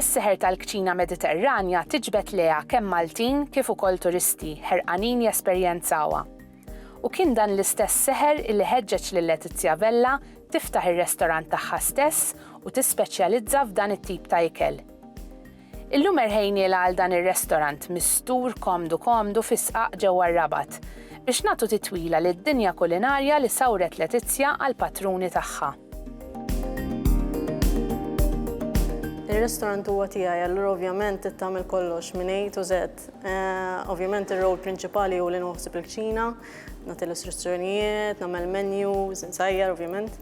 Is-seħer tal-kċina Mediterranja tiġbed leha kemm Maltin kif ukoll turisti ħerqanin jesperjenzawha. U kien dan l-istess seħer illi ħeġġeġ lil Letizia Vella tiftaħ ir-restorant tagħha stess u tispeċjalizza f'dan it-tip ta' ikel. Illum erħejnielha għal dan ir-restorant mistur komdu komdu fi sqaq ġewwa r-Rabat, biex nagħtu titwila lid-dinja kulinarja li sawret Letizia għall-patruni tagħha. Ir-restorant huwa tiegħi, allura ovvjament trid tagħmel kollox minn A to Z. Ovvjament ir-role prinċipali hu li nħossib il-kċina, nagħti l-istruzzjonijiet, nagħmel menus, insajjar ovvjament.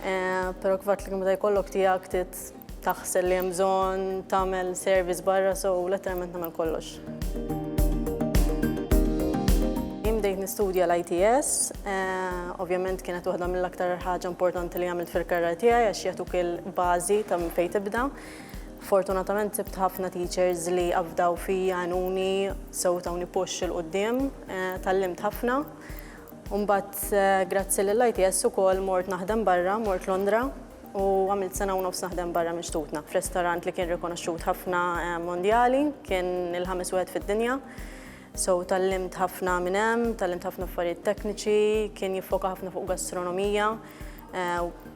Eh, pero kif għatlik meta jkollok tijak tit taħsel li jemżon tamel service barra so letteralment namel kollox. Jimdejt nistudja l-ITS, eh, ovvjament kienet waħda mill-aktar ħaġa importanti li għamilt fil-karra tijaj għax jatuk il-bazi ta' minn fej tibda. Fortunatament sibt ħafna teachers li għafdaw fi għanuni sew tawni push il-qoddim, eh, tal-limt ħafna. U mbagħad grazzi lill-ITS ukoll mort naħdem barra, mort Londra u għamilt sena u nofs naħdem barra minn xtutna f'restorant li kien rikonoxxut ħafna mondjali, kien il-ħames wieħed fid-dinja. So tallimt ħafna minn hemm, tallimt ħafna affarijiet tekniċi, kien jiffoka ħafna fuq gastronomija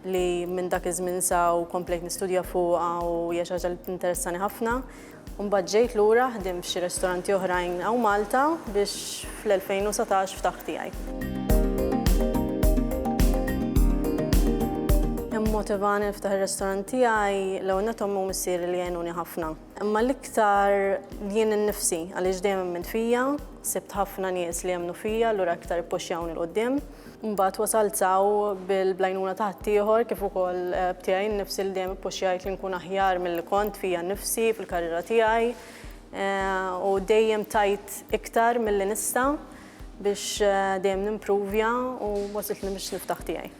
li minn dak iż-żmien sa u komplejt nistudja fuqha u hija xi ħaġa li tinteressani ħafna. u mbagħad ġejt lura ħdimt f'xi restoranti oħrajn hawn Malta biex fl-2019 ftaħt tiegħi. Immotivani niftaħ ir-restorant tiegħi l-ewwel nett ommi u missieri li għenuni ħafna. Imma l-iktar jien innifsi għaliex dejjem emmint fija, sibt ħafna nies li jemmnu fija allura iktar ippuxxjawni 'l quddiem. Mbagħad wasalt s'hawn bil-bl-għajnuna ta' ħaddieħor kif ukoll b'tiegħi nnifsi li dejjem ippuxxjajt li nkun aħjar milli kont fija nnifsi fil-karriera tiegħi u dejjem tajt iktar milli nista' biex dejjem nimpruvja u wasiltni biex niftaħ tiegħi.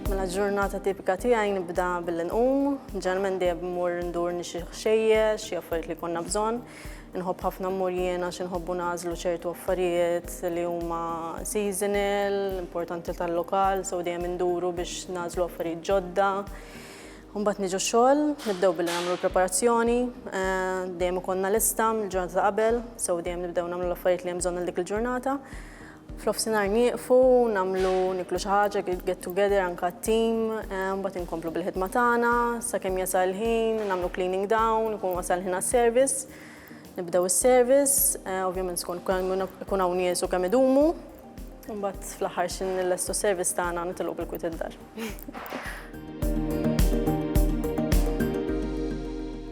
Mela ġurnata tipika tiegħi nibda billi nqum, ġeneralment dejjem immur indur nixtri xi ħxejjex, xi affarijiet li jkollna bżonn. Inħobb ħafna mmur jien għax inħobbu nażlu ċertu affarijiet li huma seasonal, importanti tal-lokal, sew dejjem induru biex nażlu affarijiet ġodda. Mbagħad niġu xogħol, nibdew billi nagħmlu l-preparazzjoni, eh, dejjem ikollna lista mill-ġurnata ta' qabel, sew dejjem nibdew nagħmlu l-affarijiet li hemm bżonn dik il-ġurnata. F'nofsinhar nieqfu, nagħmlu niklu xi ħaġa, get together anke t-tim, eh, mbagħad inkomplu bil-ħidma tagħna, sakemm jasal ħin, nagħmlu cleaning down, ikun wasal ħin għas-service, nibdew is-service, eh, ovvjament skont ikun hawn nies u kemm idumu, mbagħad fl-aħħar xi nillestu s-service tagħna nitilqu bil-kwit id-dar.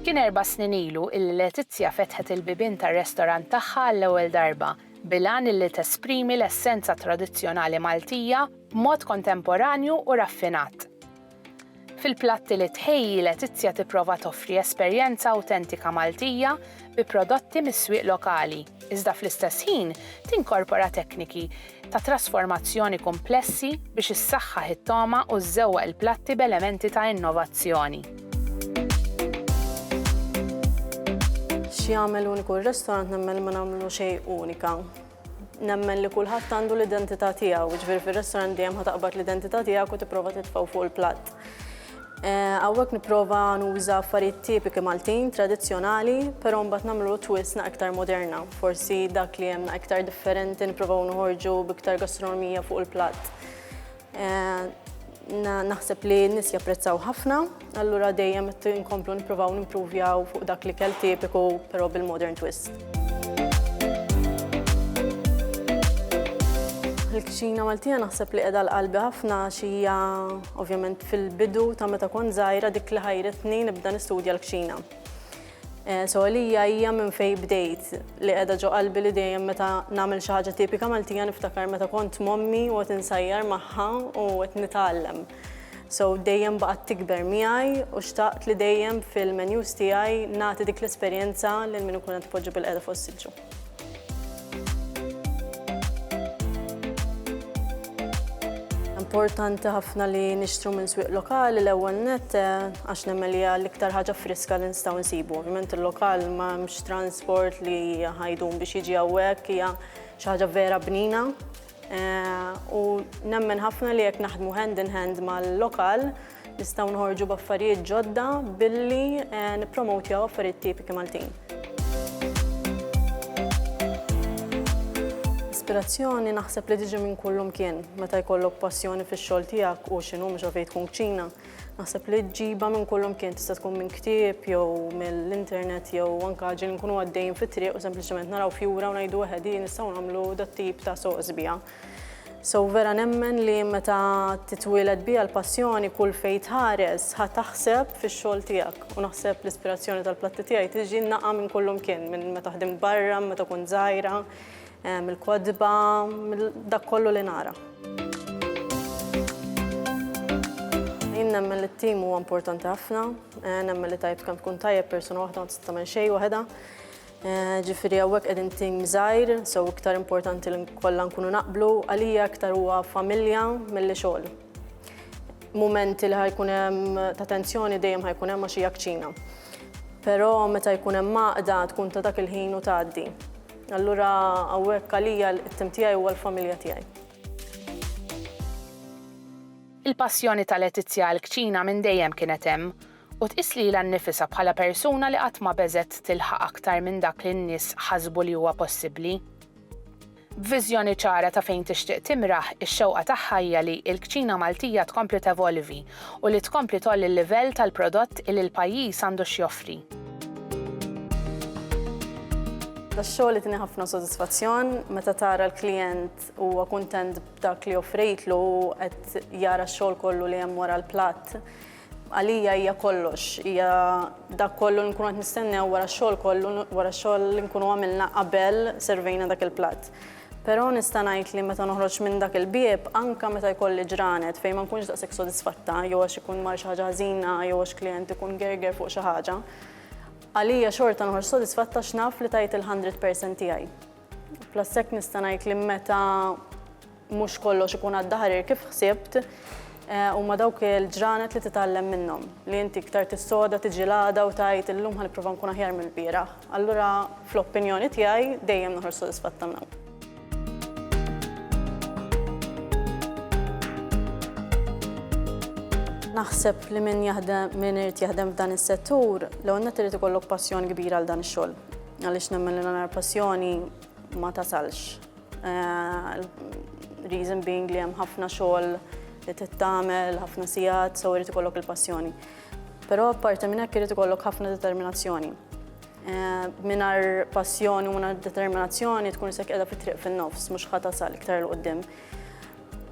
Kien erba' snin ilu illi Letizia fetħet il-bibien tar-restorant tagħha għall-ewwel darba. bil-għan illi tesprimi l-essenza tradizzjonali Maltija b'mod kontemporanju u raffinat. Fil-platti li tħejji Letizia tipprova toffri esperjenza awtentika Maltija bi prodotti mis-swieq lokali, iżda fl-istess ħin tinkorpora tekniki ta' trasformazzjoni kumplessi biex issaħħaħ it-togħma u żżewwaq il-platti b'elementi ta' innovazzjoni. X'jagħmel uniku r-restorant nemmen li ma nagħmlu xejn unika. Nemmen li kulħadd għandu l-identità tiegħu, ġifieri fir-restorant dejjem ħa taqbad l-identità tiegħek u tipprova titfgħu fuq il-platt. Eh, hawnhekk nipprova nuża affarijiet tipiki Maltin, tradizzjonali, però mbagħad nagħmlu twist na iktar moderna. Forsi dak li hemm iktar differenti nipprovaw noħorġu b'iktar gastronomija fuq il-platt. Naħseb li n-nies japprezzaw ħafna, allura dejjem qed inkomplu nippruvaw nimpruvjaw fuq dak li kell tipiku però bil-modern twist. Il-kċina Maltija naħseb li qiegħda għal qalbi ħafna għax hija ovvjament fil-bidu ta' meta kont żgħira dik li ħajritni nibda nistudja l-kċina. So għalija hija minn fejn bdejt li qiegħda ġo qalbi li dejjem meta nagħmel xi ħaġa tipika Maltija niftakar meta kont m'ommi u qed insajjar magħha u qed nitgħallem. So dejjem baqgħet tikber miegħi u xtaqt li dejjem fil-menus tiegħi nagħti dik l-esperjenza lil min ikun qed ipoġġi bil-qiegħda fuq is-siġġu. Importanti ħafna li nixtru minn swieq lokali l-ewwel net eh, għax nemmen li l-iktar ħaġa friska li nistgħu nsibu. Ovvjament il-lokal ma mhux transport li ħajdum biex jiġi hawnhekk hija xi ħaġa vera bnina U nemmen ħafna li jekk naħdmu hand in hand mal-lokal nistgħu nħorġu b'affarijiet ġodda billi nippromowtjaw affarijiet tipiki Maltin. Ispirazzjoni naħseb li tiġi minn kullimkien. Meta jkollok passjoni fix-xogħol tiegħek u x'inhu mhux għalfejn tkun kċina, Naħseb li ġiba minn kullimkien tista' tkun minn ktieb jew mill-internet jew anka ġin nkunu għaddejjin fit-triq u sempliċement naraw fjura u ngħidu eħe din nistgħu nagħmlu dat tip ta' soqs biha. So vera nemmen li meta titwieled biha l-passjoni kull fejn tħares ħa taħseb fix-xogħol tiegħek u naħseb l-ispirazzjoni tal-platti tiegħi tiġi naqa' minn kullimkien minn meta ħdimt barra, meta kont żgħira, mill-kotba, mill dak kollu li nara. Jien nemmen li t-tim huwa importanti ħafna, eh, nemmen li tajb kemm tkun tajjeb persuna waħda ma tista' tagħmel xejn waħda. Eh, ġifieri hawnhekk qegħdin tim żgħir, so iktar importanti li kollha nkunu naqblu, għalija iktar huwa familja milli xogħol. Mumenti li ħajkun hemm ta' tensjoni dejjem ħajkun hemm għax hija kċina. Però meta jkun hemm maqda tkun ta' dak il-ħin u tgħaddi. Allura hawnhekk għalija it-tim tiegħi huwa l-familja tiegħi. Il-passjoni ta' Letizia għall-kċina minn dejjem kienet hemm, u tqis lilha nnifisha bħala persuna li qatt ma beżgħet tilħaq aktar minn dak li n-nies ħasbu li huwa possibbli. B'viżjoni ċara ta' fejn tixtieq timraħ, ix-xewqa tagħha hija li l-kċina Maltija tkompli tevolvi u li tkompli tgħolli l-livell tal-prodott illi l-pajjiż għandu x'joffri. Tax-xogħol itni ħafna sodisfazzjon meta tara l-klijent huwa kuntent b'dak li offrejtlu u qed jara x-xogħol kollu li hemm wara l-platt. Għalija hija kollox, hija dak kollu nkunu qed nistennew wara x-xogħol kollu wara x-xogħol li nkunu għamilna qabel servejna dak il-platt. Però nista' ngħid li meta noħroġ minn dak il-bieb, anke meta jkolli ġranet fejn ma nkunx daqshekk sodisfatta jew għax ikun mar xi ħaġa ħażina jew għax klijent ikun gerger fuq xi ħaġa, għalija xorta noħroġ sodisfatta għax naf li tajt il-hundred percent tiegħi. Plus hekk nista' ngħid li meta mhux kollox ikun għadda ħarir kif ħsibt, Huma dawk il-ġranet li titgħallem minnhom, li inti iktar tissoda, tiġi l-għada u tgħid illum ħa nipprova nkun aħjar mill-bieraħ. Allura, fl-opinjoni tiegħi, dejjem noħroġ sodisfatta minn hawn. Naħseb li min jaħdem, min irid jaħdem f'dan is-settur, l-ewwel nett irid ikollok passjoni kbira għal dan ix-xogħol. Għaliex nemmen li l-onar passjoni ma tasalx. Uh, reason being li hemm ħafna xogħol li tittamel, ħafna sigħat, so irid ikollok il-passjoni. Però apparti minn hekk irid ikollok ħafna determinazzjoni. Eh, minar passjoni u minar determinazzjoni tkun sekk edha fit-triq fin-nofs, mhux ħatasal iktar l-qoddim.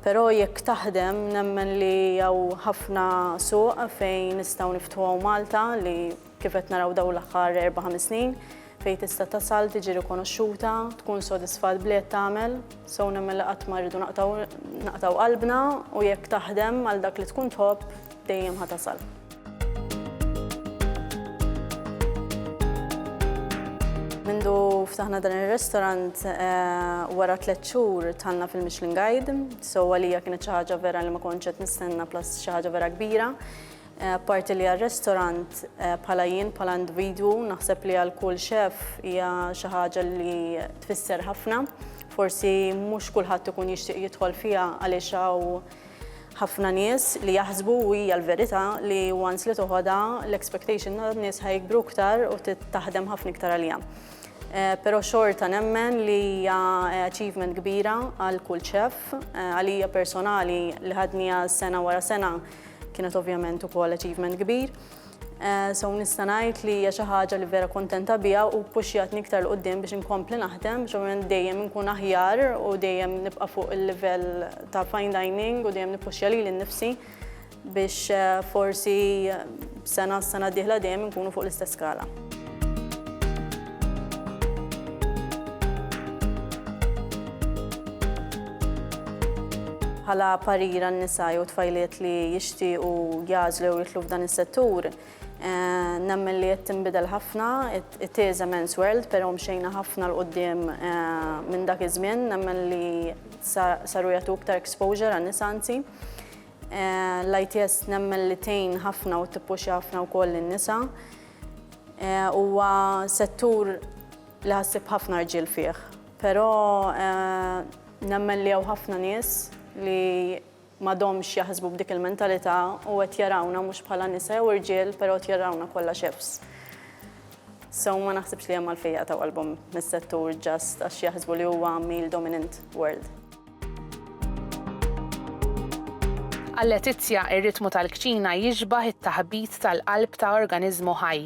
Però jekk taħdem nemmen li jew ħafna suq fejn nistgħu niftħu Malta li Kif qed naraw dawn l-aħħar erba' ħames snin, fejn tista' tasal, tiġi rikonoxxuta, tkun sodisfat b'li qed tagħmel, so nemmen li qatt ma rridu naqtgħu qalbna u jekk taħdem għal dak li tkun tħobb dejjem ħa tasal. Mindu ftaħna dan ir-restaurant eh, wara tliet xhur tħallna fil-Michelin Guide, so għalija kienet xi ħaġa vera li ma kontx qed nistenna plus xi ħaġa vera kbira. Apparti li għar-restorant, bħala jien, bħala individwu, naħseb li għal kull chef hija xi ħaġa li tfisser ħafna. Forsi mhux kulħadd ikun jixtieq jidħol fiha għaliex hawn ħafna nies li jaħsbu u hija l-verità li once li toħodha l-expectation tan-nies ħa jikbru iktar u taħdem ħafna iktar għaliha. Però xorta nemmen li hija achievement kbira għal kull chef. Għalija personali li ħadniha sena wara sena kienet ovvjament ukoll achievement kbir. Eh, so nista' ngħid li hija xi ħaġa li vera kontenta biha u puxjatni iktar l qudiem biex inkompli naħdem, biex dejjem inkun aħjar u dejjem nibqa' fuq il-livell ta' fine dining u dejjem nippuxja lili nnifsi biex eh, forsi Sena s-sena d-dieħla dejjem inkunu fuq l-istess skala. bħala parira n-nisa jew tfajliet li jixtiequ jażlu jew jitlu f'dan is-settur. Eh, nemmen li qed tinbidel ħafna, it is a men's world, però mxejna ħafna l qudiem eh, minn dak iż-żmien, nemmen li saru jagħtu iktar exposure għan-nisa anzi. L-ITS nemmen li tgħin ħafna u tippuxja ħafna wkoll lin-nisa. Huwa settur li ħassib ħafna rġiel fih, però nemmen li hawn ħafna nies li m'għadhomx jaħsbu b'dik il-mentalità u qed jarawna mhux bħala nisa jew irġiel, però qed jarawna kollha chefs. So ma naħsibx li hemm għalfejn jaqtgħu qalbhom mis-settur just għax jaħsbu li huwa male dominant world. Għal Letizia, ir-ritmu tal-kċina jixbah it-taħbit tal-qalb ta' organiżmu ħaj.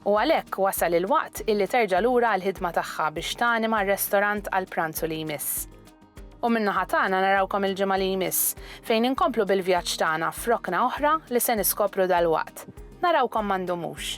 U għalhekk wasal il-waqt illi terġa' lura għall-ħidma tagħha biex tanima r-restorant għall-pranzu li jmiss. U min-naħa tagħna narawkom il-ġimgħa li jmiss, fejn inkomplu bil-vjaġġ tagħna f'rokna oħra li se niskopru dalwaqt. Narawkom ma ndumux!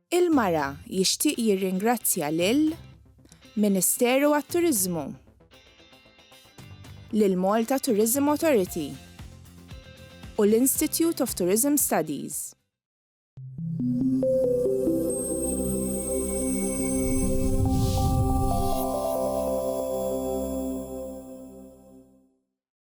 Il-Mara jixtieq jirringrazzja lil Ministeru għat-Turiżmu, lill-Malta Tourism Authority u l-Institute of Tourism Studies.